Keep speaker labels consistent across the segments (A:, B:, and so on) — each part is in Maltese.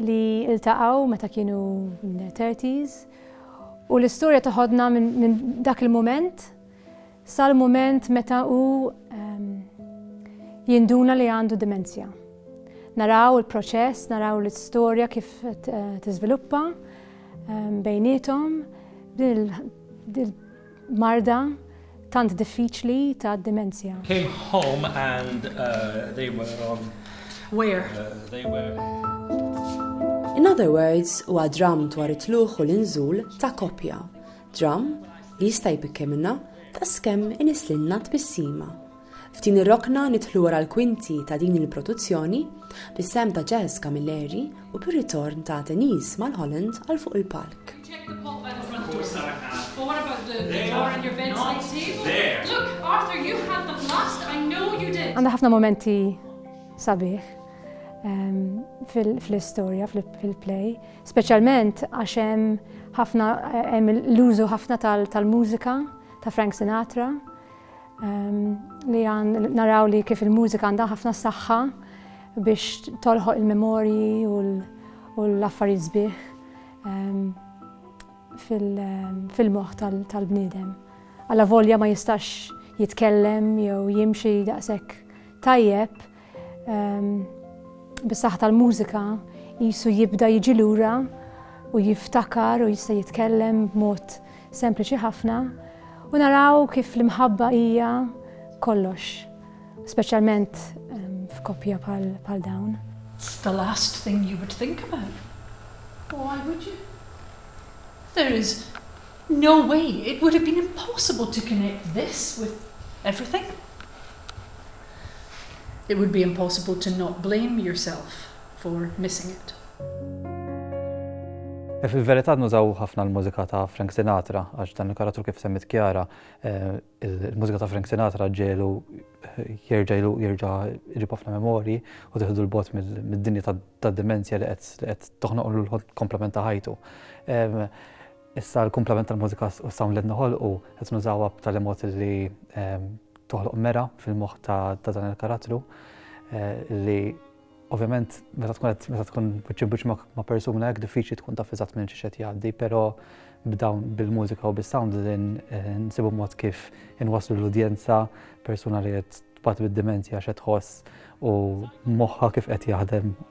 A: li iltaqgħu meta kienu in their thirties u l-istorja toħodna minn dak il-mument sal-mument meta hu ehm, jinduna li għandu dimensja. Naraw il-proċess, naraw l-istorja kif eh, tiżviluppa ehm, bejnietom din marda tant diffiċli tad-dimensja. came home
B: and they were on where
C: they were.
D: In other words, huwa dramm dwar it-tlugħ u l-inżul ta' koppja. Dramm li jista' jbikkelna daqskemm inislilna tbissima. F'din ir-rokna nidħlu wara l-kwinti ta' din il-produzzjoni, bis-sehem ta' Jazz Camilleri u bir-ritorn ta' Denise Mulholland għal fuq il-palk.
C: Għandha ħafna mumenti
A: sabiħ fl-istorja, fil-play, speċjalment għax hemm ħafna hemm l-użu ħafna tal-mużika ta' Frank Sinatra. Ehm, li għan naraw li kif il-mużika għandha ħafna saħħa biex tolħoq il-memorji u l-affarijiet sbieħ ehm, ehm, fil-moħ tal-bniedem. Alla volja ma jistax jitkellem jew jimxi daqshekk tajjeb, Bis-saħħa tal-mużika jisu jibda jiġi lura u jiftakar u jista' jitkellem b'mod sempliċi ħafna u naraw kif l-imħabba hija kollox, speċjalment ehm, f'koppja bħal dawn. It's the last
C: thing you would think about. Why would you? There is no way, it would have been impossible to connect this with everything. It would be impossible to not blame yourself for missing it.
E: Fil-verità nużaw ħafna l-mużika ta' Frank Sinatra għax dan il-karattru kif semmit Kjara, eh, il-mużika ta' Frank Sinatra ġelu eh, jerġa' jlu jerġa' jġib ħafna memorji u teħdu l-bot mid-dinja tad-demenzja li qed toħnoqlu l-komplement ta' ħajtu. Issa l-kumplament tal-mużika u s-sound li qed noħolqu qed nużawha b'tali mod li toħloq mera fil-moħħ ta' dan il-karattru li ovvjament meta tkun qed meta tkun wiċċ imbuċ ma' persuna hekk diffiċli tkun taf eżatt minn xi qed jgħaddi, però b'dawn bil-mużika u bis-sound li nsibu mod kif inwasslu l-udjenza persuna li qed tbati bid-dimensja x'qed tħoss u moħħha kif qed jaħdem.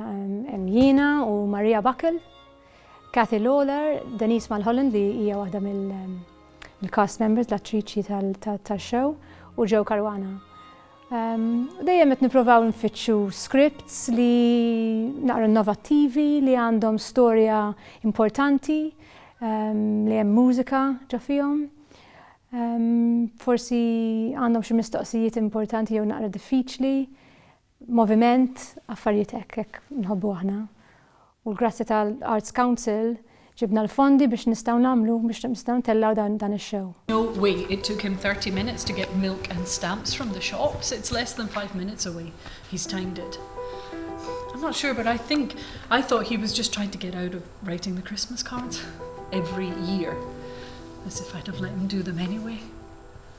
A: Hemm jiena u Maria Buckle, Kathy Lawlor, Denise Mulholland li hija waħda mill-cast members, l-attriċi tax-show, u Joe Caruana. Dejjem qed nipprovaw nfittxu scripts li naqra innovattivi, li għandhom storja importanti, li hemm mużika ġo fihom. Forsi għandhom xi mistoqsijiet importanti jew naqra diffiċli. moviment, affarijiet hekk, hekk nħobbu aħna. U l-grazzja tal-Arts Council ġibna l-fondi biex nistgħu nagħmlu, biex nistgħu ntellgħu dan ix-show. No way, it took
C: him thirty minutes to get milk and stamps from the shops, it's less than five minutes away, he's timed it. I'm not sure but I think, I thought he was just trying to get out of writing the Christmas cards every year, as if I'd have let him do them anyway.